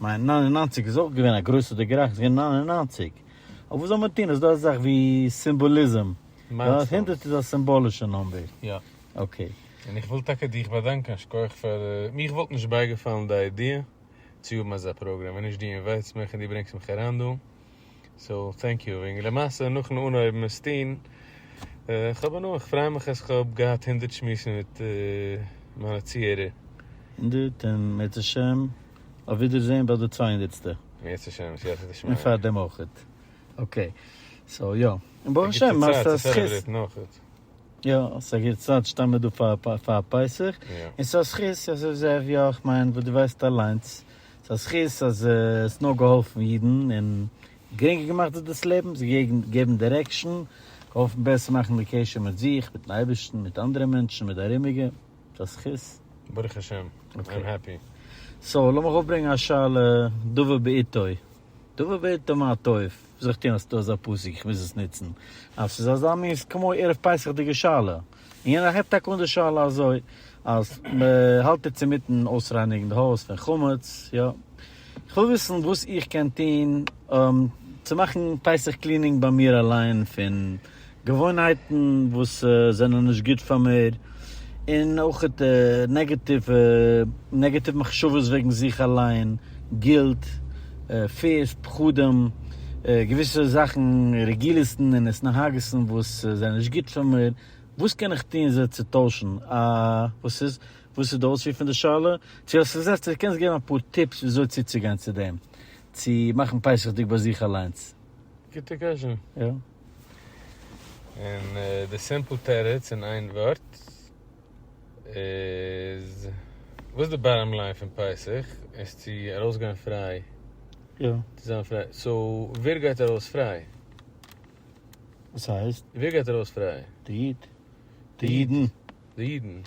מיין נײַן און נײַנציק איז אויך געווען א גרויסע די גערעכט, ס'געווען נײַן און נײַנציק, אבער וואס זאל מען טון, ס'דא אזאך ווי סימבאליזם, מיילסטאונס. הונדערט איז א סימבאלישע נומבער. יא. אקעי. און איך וויל טאקע דיך באדאנקען, שכוח פאר, מיך וואלט נישט בייגעפאלן די איידיע צו האבן אזא פראגראם ווען נישט דו אינווייטסט מיך און דו ברענגסט מיך אריין דא. סאו טענק יו. און למעשה נאכן אנהויבן עס טון, כ'האב הנאה, כ'פריי מיך אז כ'האב געהאט הונדערט שמועסן מיט מיינע צוהערער. הונדערט, און אם ירצה השם אויף ווידערזעהן ביי די צוויי הונדערטסטע. אם ירצה השם, סייעתא דשמיא. און פארדעם אויכעט. אקעי. סאו יא. און ברוך השם מאכסט א זכות. יא, ס'איז א גוטע צייט, ש'טאר מען דא פאר פסח, און ס'איז א זכות, יא, כ'מיין וואס דו ווייסט אליינס, ס'איז א זכות אז עס האט נאר געהאלפן אידן און גרינגער געמאכט זיך דאס לעבן, זיי געגעבן דירעקשאן, געהאלפן בעסער מאכן די קשר מיט זיך, מיטן אייבערשטן, מיט אנדערע מענטשן, מיט די ארומיגע. ס'איז א זכות. ברוך השם, איי'ם העפי. סאו, לאמיך אויפברענגען א שאלה דבר בעיתו. דבר בעיתו מה טוב. זיך טון אז ס'איז דא אזא פסוק, איך מוז עס נוצן. אז ס'איז אזא מין ס'איז כמו ערב פסח'דיגע שאלה. און ער הייבט טאקע אן די שאלה אזוי, אז מ'האלט איצט אינמיטן אויסרייניגן די הויז פון חמץ, יא. איך וויל וויסן וואס איך קען טון צו מאכן פסח קלינינג ביי מיר אליין פון געוואוינהייטן וואס זענען נישט גוט פאר מיר, און אויכעט נעגעטיווע נעגעטיוו מחשבות וועגן זיך אליין, גילט. פיס, פחדים, געוויסע זאכן, רגילית'ן און התנהגות'ן וואס זענען נישט גוט פאר מיר, וואס קען איך טון זיי צו טוישן? א. וואס איז וואס איז די אויספיר פון די שאלה? צו האסט עס זעלבסט קענסט געבן אפאר טיפס וויאזוי צוצוגיין צו דעם? צו מאכן פסח'דיג ביי זיך אליינס? גוטע קשיא. יא. און די סימפל תירוץ אין איין ווארט. איז וואס די באטאם ליין פון פסח איז צו ארויס גיין פריי יא צו זיין פריי סאו ווער גייט ארויס פריי וואס הייסט ווער גייט ארויס פריי די איד די אידן די אידן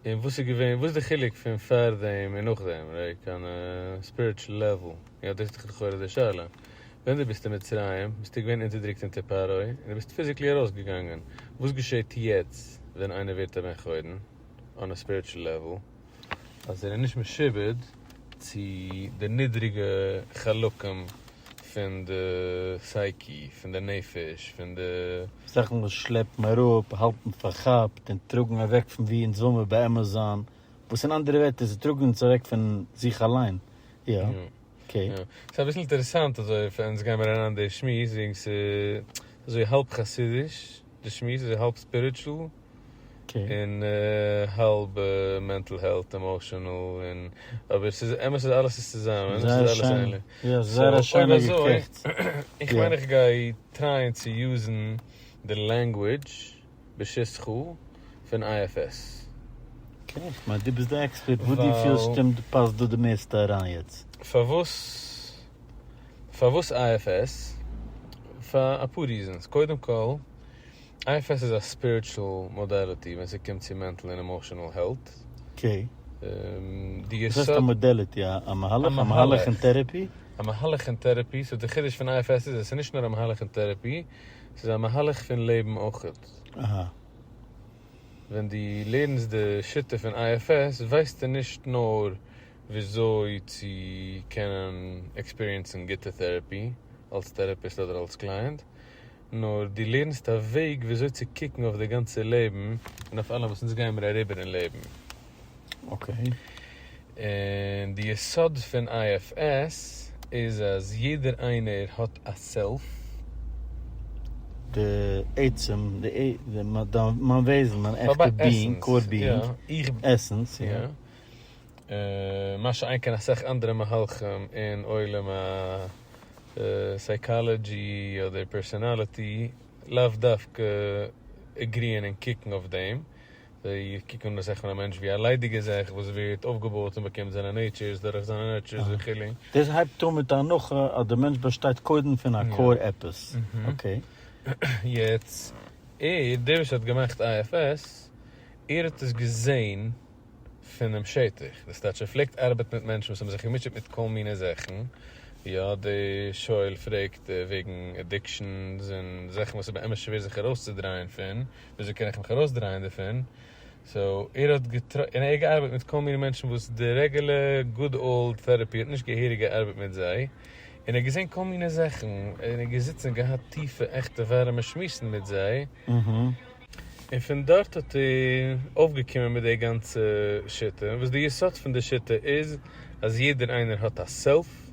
און וואס איז געווען וואס איז די חילוק פון פאר דעם און נאך דעם קיין ספיריטשעל לעוועל יא דאס איז לכאורה די שאלה. ווען דו ביסט אין מצרים ביסטו געווען אונטערדרוקט אונטער פרעה און דו ביסט פיזיקלי ארויסגעגאנגען, וואס געשעט יעצט ווען איינער ווערט א בן חורין אן א ספיריטשול לעוועל אז ער איז נישט משועבד צו די נידריגע חלקים פון די סייקי, פון די נפש, פון די. זאכן וואס שלעפן אראפ, האלטן פארכאפט און טראגן אוועק פון וואו אונז וויל מיר באמת זיין, וואס אין אנדערע ווערטער זיי טראגן אונז אוועק פון זיך אליין, יא. אקעי. ס'איז אביסל אינטערעסאנט אזוי פאר אונז גיי מיר אריין די שמועס וועגן ס' אזוי האלב חסידיש די שמועס אזוי האלב ספיריטשול און האלב מענטל העלט עמאשענעל און אבער ס'איז אמת אז אלעס איז צוזאמען ס'איז אלעס איין לי סאו אויב אזוי איך מיין איך גיי טרייען צו יוזן די לענגווידזש. בשס ח פון איי עף עס. אקעי, כ'מיין דו ביסט די עקספערט, וואס דו פילסט שטימט פאסט דא די מערסטע אריין יעצט. פארוואס פארוואס איי עף עס? פאר אפאר ריזענס, קודם כל איי עף עס איז א ספיריטשול מאדעליטי ווען ס'קומט צו מענטל און עמאשענעל העלט. אקעי. די יסוד. וואס הייסט א מאדעליטי? א מהלך? א מהלך אין טערעפי? א מהלך אין טערעפי, סאו די חידוש פון איי עף עס איז עס איז נישט נאר א מהלך אין טערעפי, ס'איז א מהלך פון לעבן אויכעט. ווען דו לערנסט די שיטה פון IFS ווייסטו נישט נאר וויאזוי צו קענען עקספיריענסן גוטע טעראפי אלס טעראפיסט אדער אלס קלייענט, נאר דו לערנסט א וועג וויאזוי צו קוקן אויף די גאנצע לעבן און אויף אלעם וואס אונז גיימער אריבער אין לעבן. אקעי. און די יסוד פון IFS איז אז יעדער איינער האט א סעלף. די עצם, מיין וועזן, מיין עכטע ביאינג, קאור ביאינג, עסענס, יא. מה שאין כן אסאך אנדערע מהלכים אין עולם הסייקאלעדזשי אדער פערסאנאליטי לאו דווקא עגריען און קוקן אויף דעם, זיי קוקן אן די זעך פון א מענטש ווי א ליידיגע זעך וואס ווערט אויפגעבויעט און באקומט זיינע נעיטשורס דורך זיינע נערטשורס וכו'. דאס הייבט אן מיט א הנחה אז דער מענטש באשטייט קודם פון א קאור עפעס. אקעי. יעצט, ער, דער וואס האט געמאכט IFS, ער האט עס געזען פונעם שטח. דאס טייטש ער פלעגט ארבעטן מיט מענטשן וואס האבן זיך געמוטשעט מיט כל מיני זעכן. יא, דער שואל פרעגט וועגן עדיקשאנס און זעכן וואס איז באמת שווער זיך ארויסצודרייען פון. וויאזוי קען איך מיך ארויסדרייען דערפון? סאו ער האט געטרא און ער האט געארבעט מיט כל מיני מענטשן וואס די רעגעלע גוד אולד טערעפי האט נישט געהעריג געארבעט מיט זיי, און ער האט געזען כל מיני זאכן, און ער האט געזיצן און געהאט טיפע עכטע ווארעמע שמועסן מיט זיי, און פון דארט האט ער אויפגעקומען מיט די גאנצע שיטה, וואס די יסוד פון די שיטה איז אז יעדער איינער האט א סעלף,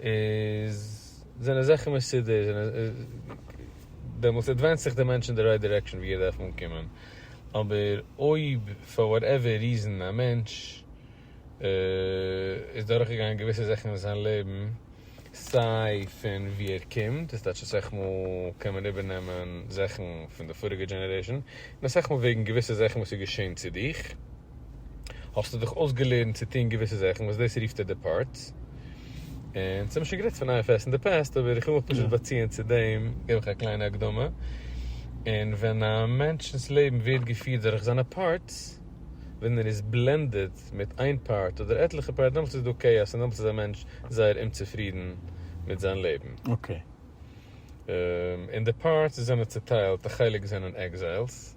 איז זענען זאכן מסודר דעמאלטס עדווענסט זיך די מענטש אין די רייט דירעקשאן ווי ער דארף אנקומען, אבער אויב פאר וואטעווער ריזען א מענטש איז דורך געגאנגען געוויסע זאכן אין זיין לעבן סיי פון ווי ער קומט דאס טייטש אסאך מאל קען מען איבער נעמען זאכן פון די פאריגע דזשענערעישאן און אסאך מאל וועגן געוויסע זאכן וואס איז געשען צו דיך. האסטו דיך אויסגעלערנט צו טון געוויסע זאכן וואס דאס רופט ער די פארטס, און ס'האמיר שוין גערעדט פון אייער פעסט אין די פעסט אבער איך וויל מיך פשוט באציען צו דעם גיב איך א קליינע הקדמה, און ווען א מענטש'נס לעבן ווערט געפירט דורך זיינע פארטס, ווען ער איז בלענדעד מיט איין פארט אדער עטליכע פארט דעמאלטס איז דא כאאס און דעמאלטס איז א מענטש זייער אומצופרידן מיט זיין לעבן. און די פארטס זענען צוטיילט, א חלק זענען עקזיילס.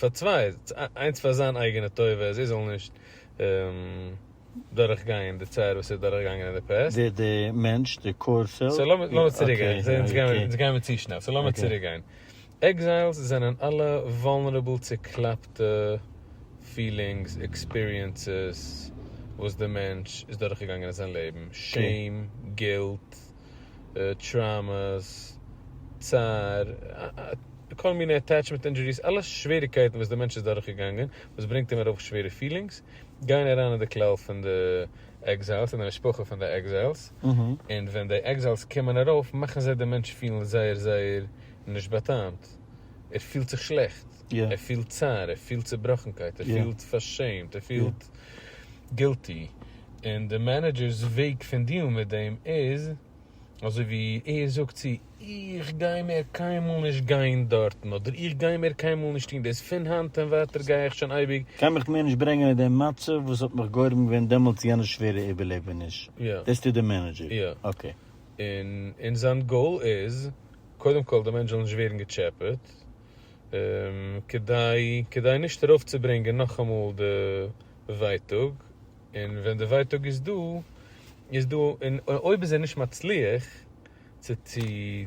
פאר צוויי, איינס פאר זיין אייגענע טובה אז ער זאל נישט דורך גיין די צער וואס ער איז דורך געגאנגען אין די פרעס. ווער די מענטש די קאור פעל? סאו לאמיר צוריק גיין, אונז גייען מיר צו שנעל, סאו לאמיר צוריק גיין, עקזיילס זענען אלע וואלנערעבל צוקלאפטע פילינגס, עקספיריענסעס, וואס די מענטש איז דורך געגאנגען אין זיין לעבן, שעים, גילט, טראומעס, צער, כל מיני אטעטשמענט אינדזשוריס, אלע שוועריגקייטן וואס די מענטש איז דורכגעגאנגען וואס ברענגט אים ארויף שווערע פילינגס, גייען אריין אין די כלל פון די עקזיילס, אין די משפחה פון די עקזיילס, און ווען די עקזיילס קומען ארויף מאכן זיי דעם מענטש פילן זייער זייער נישט באטעמט, ער פילט זיך שלעכט, ער פילט צער, ער פילט צעבראכנקייט, ער פילט פארשעמט, ער פילט גילטי, און די מענעדזשער'ס וועג פון דיעלן מיט דעם איז אזוי ווי ער זאגט צו איך גיי מער קיינמאל נישט גיין דארטן אדער איך גיי מער קיינמאל נישט טון דאס פון היינט און ווייטער גיי איך שוין אייביג גיי מיך מער נישט ברענגען אין דעם מצב וואס האט מיך גורם געווען דעמאלט צו יענע שווערע איבערלעבעניש. יא. דאס טוט די מענעדזשער. יא. אקעי. און און זיין גאול איז קודם כל די מענטש זאל נישט ווערן געטשעפעט כדי כדי נישט ארויפצוברענגען נאכאמאל די ווייטאג, און ווען די ווייטאג איז דא איז דא, און אויב איז ער נישט מצליח צו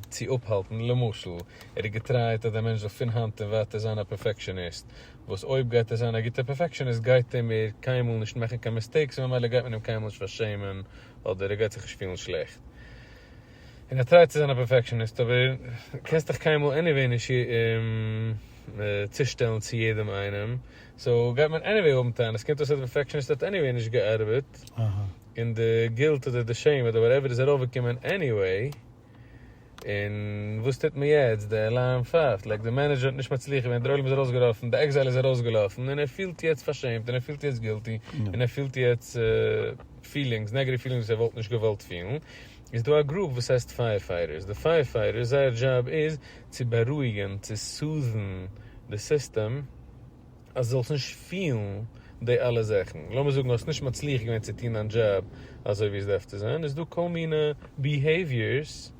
צו אפהאלטן, למשל ער האט געטרייט אז דער מענטש זאל פון היינט און ווייטער זיין א פערפעקשעניסט, וואס אויב גייט ער זיין א גוטער פערפעקשעניסט גייט ער מער קיינמאל נישט מאכן קיין מיסטעיקס און ממילא גייט מען אים קיינמאל נישט פארשעמען אדער ער גייט זיך נישט פילן שלעכט און ער טרייט צו זיין א פערפעקשעניסט, אבער קענסט דיך קיינמאל עניוועי נישט צושטעלן צו יעדעם איינעם. סאו גייט מען עניוועי האבן טענות, קומט אויס אז די פערפעקשעניסט האט עניוועי נישט געארבעט, און די גילט אדער די שעים אדער וואטעווער איז ארויפגעקומען עניוועי, און וואס טוט מען יעצט, די עולם פייפט, לייק די מענעדזשער האט נישט מצליח געווען, דער עולם איז ארויסגעלאפן, די עקזייל איז ארויסגעלאפן, און ער פילט יעצט פארשעמט, און ער פילט יעצט גילטי, און ער פילט יעצט פילינגס, נעגעטיוו פילינגס וואס ער וואלט נישט געוואלט פילן, איז דא א גרופ וואס הייסט פייער פייטערס, די פייער פייטערס זייער דזשאב איז צו בארואיגען, צו סאוט'ן די סיסטעם אז זאלסט נישט פילן די אלע זאכן, לאמיר זאגן האסט נישט מצליח געווען צו טון דיין דזשאב אזוי ווי עס דארף צו זיין, איז דא כל מיני ביהעיוויערס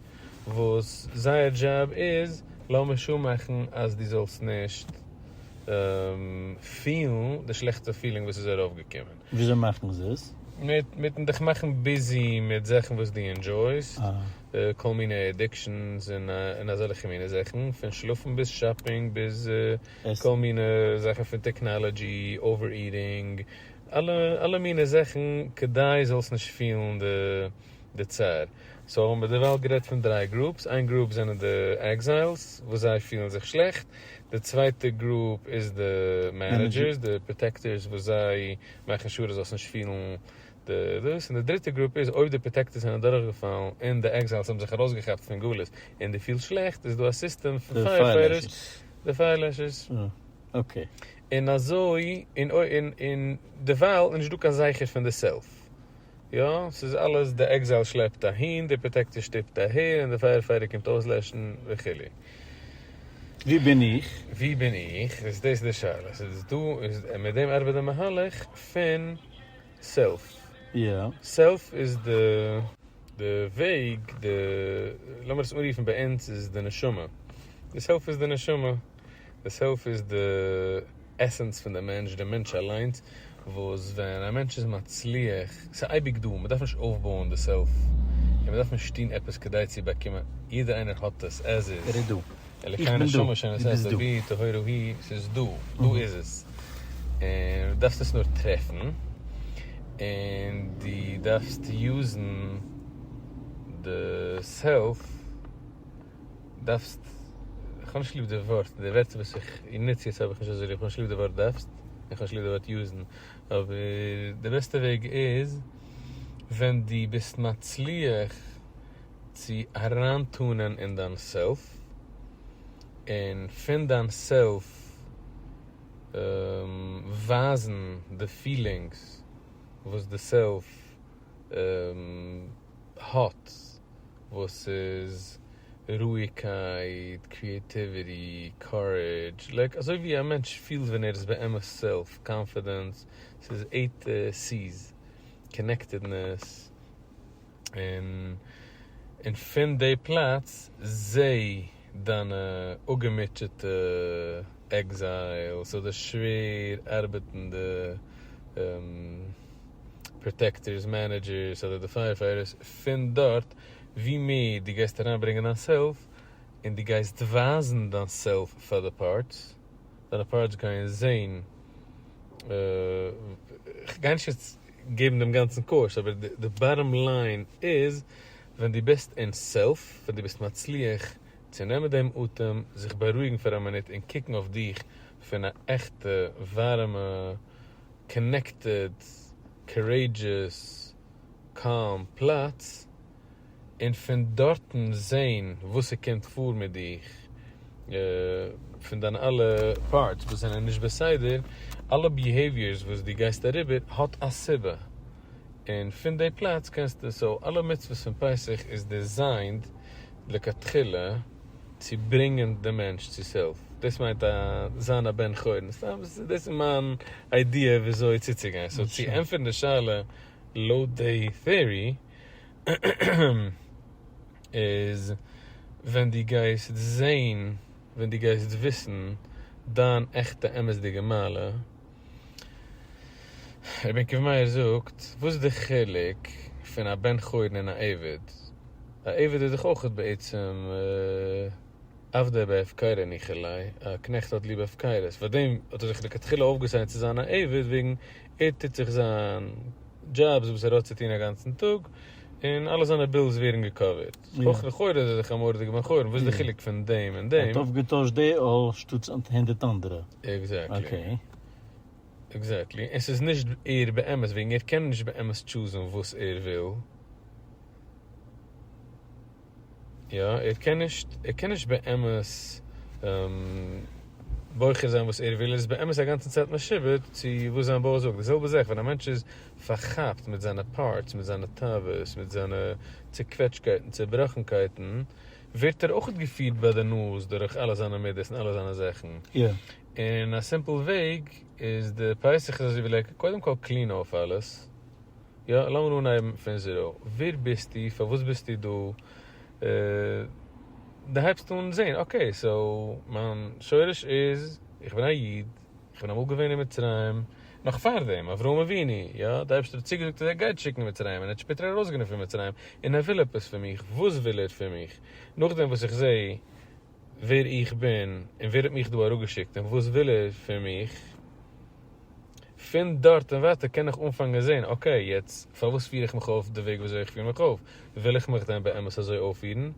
וואס זייער דזשאב איז לאמיר שור מאכן אז דו זאלסט נישט פילן די שלעכטע פילינג וואס איז ארויף געקומען. וויאזוי מאכט מען זיס? מיט מיטן דיך מאכן ביזי מיט זאכן וואס דו ענדזשויסט, כל מיני עדיקשאנס און אזעלכע מיני זאכן, פון שלאפן ביז שאפינג ביז כל מיני זאכן פון טעקנאלעדזשי, אווער איטינג, אלע מיני זאכן כדי זאלסט נישט פילן די די צער. סאו האבן מיר דערווייל גערעדט פון דריי גרופס, איין גרופ זענען די עקזיילס וואס זיי פילן זיך שלעכט, די צווייטע גרופ איז די מענעדזשערס, די פראטעקטערס וואס זיי מאכן שור אז זאלסט נישט פילן די דאס, און די דריטע גרופ איז אויב די פראטעקטערס זענען אדורכגעפאלן און די עקזיילס האבן זיך ארויסגעכאפט פון גלות און די פילסט שלעכט איז דא א סיסטעם פון פייער פייטערס, די פייער לעשערס. און אזוי און און דערווייל איז נישט דא קיין זכר פון די סעלף. יא, ס'איז אלעס, די עקזייל שלעפט אהין, די פראטעקציע שטופט אהער, און די פייער פייטער קומט אויסלעשן וכו'. ווי בין איך? ווי בין איך? דאס איז די שאלה. ס'איז דאס דא, איז מיט דעם ארבעט די מהלך פון סעלף. יא. סעלף איז די די וועג, די, לאמיר עס אנרופן ביי אונז איז די נשמה. די סעלף איז די נשמה. די סעלף איז די עסענס פון די מענטש, די מענטש אליינס, וואס ווען א מענטש איז מצליח, ס'איז אייביג דא, מ'דארף נישט אויפבויען די סעלף, און מ'דארף נישט טון עפעס כדי צו באקומען, יעדער איינער האט עס עז איז, ער איז דא, איך בין דא, דו ביסט דא. טהורו הי', ס'איז דא, דא איז עס, און דו דארפסט עס נאר טרעפן, און דו דארפסט יוזן די סעלף. דארפסט, כ'האב נישט ליב די ווארט, די ווערטער וואס איך נוץ יעצט האב איך נישט אזוי ליב, כ'האב נישט ליב די ווארט דארפסט, און כ'האב נישט ליב די ווארט יוזן, אבער די בעסטע וועג איז ווען דו ביסט מצליח צו אריינטאנען אין דיין סעלף, און פון דיין סעלף ווייזן די פילינגס וואס די סעלף האט. וואס איז רואיגקייט, קריעטיוויטי, קארעדזש, לייק אזוי ווי א מענטש פילט ווען ער איז באמת סעלף קאנפידענס, ס'איז עיט סי'ס, קאנעקטעדנעס, און פון די פלאץ זעה דיינע אפגעמוטשעטע עקזיילס אדער שווער ארבעטנדע פראטעקטערס, מענעדזשערס אדער די פייערפייטערס פון דארט, ווי מער דו גייסט אריינברענגען דיין סעלף און דו גייסט ווייזן דיין סעלף פאר די פארטס, דיינע פארטס גייען זען, כ'גיי נישט יעצט געבן דעם גאנצן קורס אבער די באטאם ליין איז ווען דו ביסט אין סעלף, ווען דו ביסט מצליח צו נעמען דעם אטעם, זיך בארואיגן פאר א מינוט און קוקן אויף דיך פון א עכטע, ווארעמע, קאנעקטעד, קארעידזשעס, קאם פלאץ, און פון דארטן זען וואס ס'קומט פאר מיט דיך, פון דיינע אלע פארטס וואס זענען נישט בסדר, אלע ביהעיוויערס וואס דו גייסט אריבער האט א סיבה. און פון די פלאץ קענסטו, סאו אלע מצוות פון פסח איז דיזיינד לכתחילה צו ברענגען די מענטש צו סעלף, דאס מיינט א זיין א בן חורין, סתם דאס איז מיין איידיע וויאזוי צוצוגיין, סאו צו ענטפערן די שאלה לויט די טעארי איז ווען דו גייסט זעהן, ווען דו גייסט וויסן דיין עכטע אמת'דיגע מעלה, רבי עקיבא מאיר זאגט, וואס איז די חילוק פון א בן חורין און א עבד? א עבד איז דאך אויך בעצם עבדי בהפקרה ניחא ליה, א קנעכט האט ליב הפקרות, פארדעם האט ער זיך לכתחילה אויפגעסיינט צו זיין א עבד, וועגן ער טוט זיך זיין דזשאב, וואס ער האט צו טון א גאנצן טאג, און אלע זיינע בילס ווערן געקאווערט. אויך לכאורה איז ער זיך אמארט די געווען חרם וואס איז די חילוק פון דעם און דעם. ער האט אויף געטוישט די אויל שטאטס הונדערט אנדערע. עקזעקטלי. עקזעקטלי און ס'איז נישט ער באמת וועגן ער קען נישט באמת טשוזען וואס ער וויל. יא ער קען נישט ער קען נישט באמת בוחר זיין וואס ער וויל ער איז באמת א גאנצע צייט משועבד צו וואס זיין בויך זאגט די זעלבע זאך ווען א מענטש איז פארכאפט מיט זיינע פארטס מיט זיינע תאוות מיט זיינע צוקוועטשקייט און צובראכנקייטן, ווערט ער אויך געפירט ביי די נאז דורך אלע זיינע מידות און אלע זיינע זאכן. און א סימפל וועג איז די פסח איז אזוי ווי לייקן, קודם כל קלין אויף אלעס, יא, לאמיר אנהייבן פון זיראו, ווער ביסטו, פארוואס ביסטו דא, דו הייבסט אן זען, אקעי, סאו מיין שורש איז, איך בין א איד, איך בין אמאל געווען אין מצרים, נאך פאר דעם, אברהם אבינו, יא, די אייבערשטער האט צוגעזאגט אז ער גייט שיקן אין מצרים, און ער האט שפעטער ארויסגענומען פון מצרים, און ער וויל עפעס פון מיך, וואס וויל ער פון מיך? נאכדעם וואס איך זעה ווער איך בין, און ווער האט מיך דא אראפגעשיקט, און וואס וויל ער פון מיך, פון דארט און ווייטער קען איך אנפאנגען זען, אקעי, יעצט פארוואס פיר איך מיך אויף די וועג ווי אזוי איך פיר מיך אויף? וויל איך מיך דען באמת אזוי אויפפירן?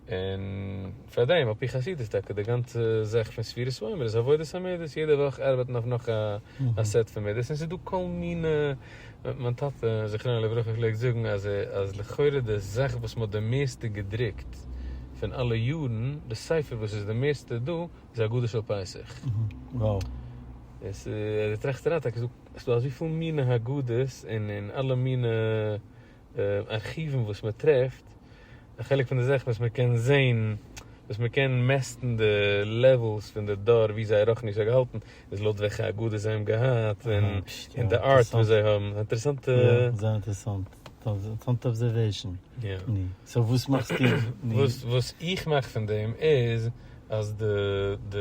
און פאר דעם על פי חסידות טאקע די גאנצע זאך פון ספירת העומר איז עבודת המידות, יעדע וואך ארבעט מען אויף נאך א סעט פון מידות, און ס'איז דא כל מיני, מיין טאטע זכרונו לברכה פלעגט זאגן אז אז לכאורה די זאך וואס מ'האט די מערסטע געדרוקט פון אלע יארן, די ספר וואס איז די מערסטע דא, איז הגדה של פסח. וואו. און ס'איז, ער טראכט אריין טאקע ס'איז דא אזויפיל מיני הגדות און אלע מיני ארכיוון וואס מען טרעפט, א חלק פון די זאכן וואס מען קען זעהן, וואס מען קען מעסטן די לעוועלס פון די דור ווי זייער רוחניות האט געהאלטן, איז לויט וועלכע אגודה זיי האבן געהאט, און די ארט וואס זיי האבן, אינטערעסאנט. יא, זייער אינטערעסאנט, אינטערעסאנט אבזערוועישאן. יא. סאו וואס מאכסטו? וואס איך מאך פון דעם איז. אז די די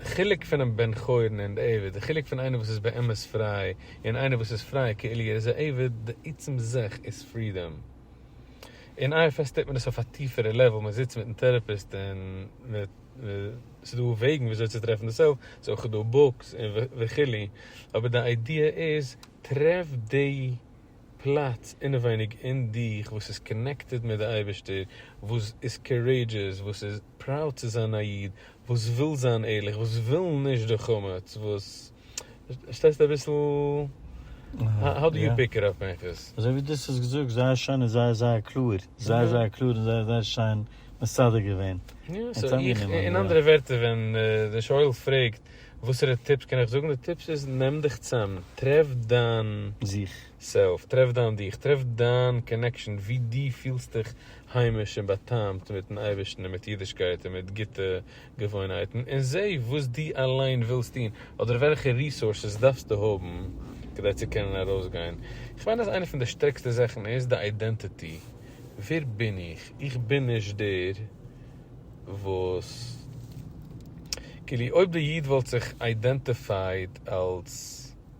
חילוק פונעם בן חורין און די עבד, די חילוק פון איינער וואס איז באמת פריי, און איינער וואס איז פריי כאילו ער איז א עבד, די עצם זאך איז פרידאם. אין IFS טוט מען עס אויף א טיפערע לעוועל, מען זיצט מיטן טעראפיסט און מען ס'איז דא וועגן וויאזוי צו טרעפן די סעלף, ס'איז אויך דא בוקס און וכו', אבער די איידיע איז, טרעף די פלאץ אינעווייניג אין דיך וואס איז קאנעקטעד מיט די אייבערשטער, וואס איז קארעידזשעס, וואס איז. פראוד צו זיין א איד וואס וויל זיין ערליך, וואס וויל נישט די חמץ, וואס, פארשטייסט אביסל האו דו יו פיק איט אפ עכפ. אזוי ווי דאס האסט געזאגט זייער שיין און זייער זייער קלאר, זייער זייער קלאר און זייער זייער שיין מסדר געווען. אין אנדערע ווערטער ווען די שואל פרעגט וואסערע טיפס קען איך זאגן, די טיפס איז נעם דיך צאם, טרעף דיין זיך, טרעף דיין דיך, טרעף דיין קאנעקשאן ווי דו פילסט דיך היימיש און באטעמט מיטן אייבערשטן און מיט אידישקייט און מיט גוטע געוואוינהייטן, און זע וואס דו אליין ווילסט טון, אדער וועלכע ריסארסעס דארפסטו האבן כדי צו קענען ארויסגיין. איך מיין אז איינע פון די שטערקסטע זאכן איז די אידענטיטי, ווער בין איך? איך בין נישט דער וואס. כאילו אויב די איד וואלט זיך אידענטיפייד אלס.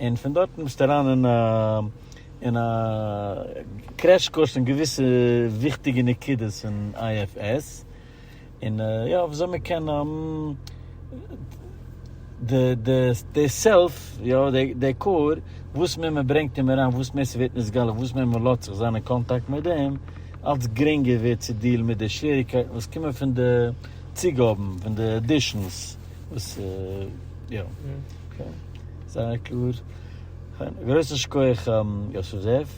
און פון דארטן ביסטו אריין אין א אין א קרעש קורס אין געוויסע וויכטיגע נקודות אין IFS, און יא וויאזוי מען קען די די די סעלף, יא די קאור, וואס מער מען ברענגט אים אריין וואס מער ס'ווערט נתגלה וואס מער מען לאזט זיך זיין אין קאנטאקט מיט דעם, אלץ גרינגער ווערט צו דיעלן מיט די שוועריקייטן וואס קומען פון די צוגאבן, פון די עדישאנס. וואס יא אקעי זייער קלאר. גרויסן שכוח יוסף זאב.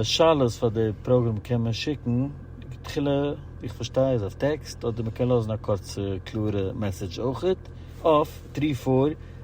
שאלות פאר די פראגרעם קען מען שיקן תחילה ווי איך פארשטיי איז אויף טעקסט אדער מען קען לאזן א קורצע קלארע מעסעדזש אויכעט אויף טרי פאר.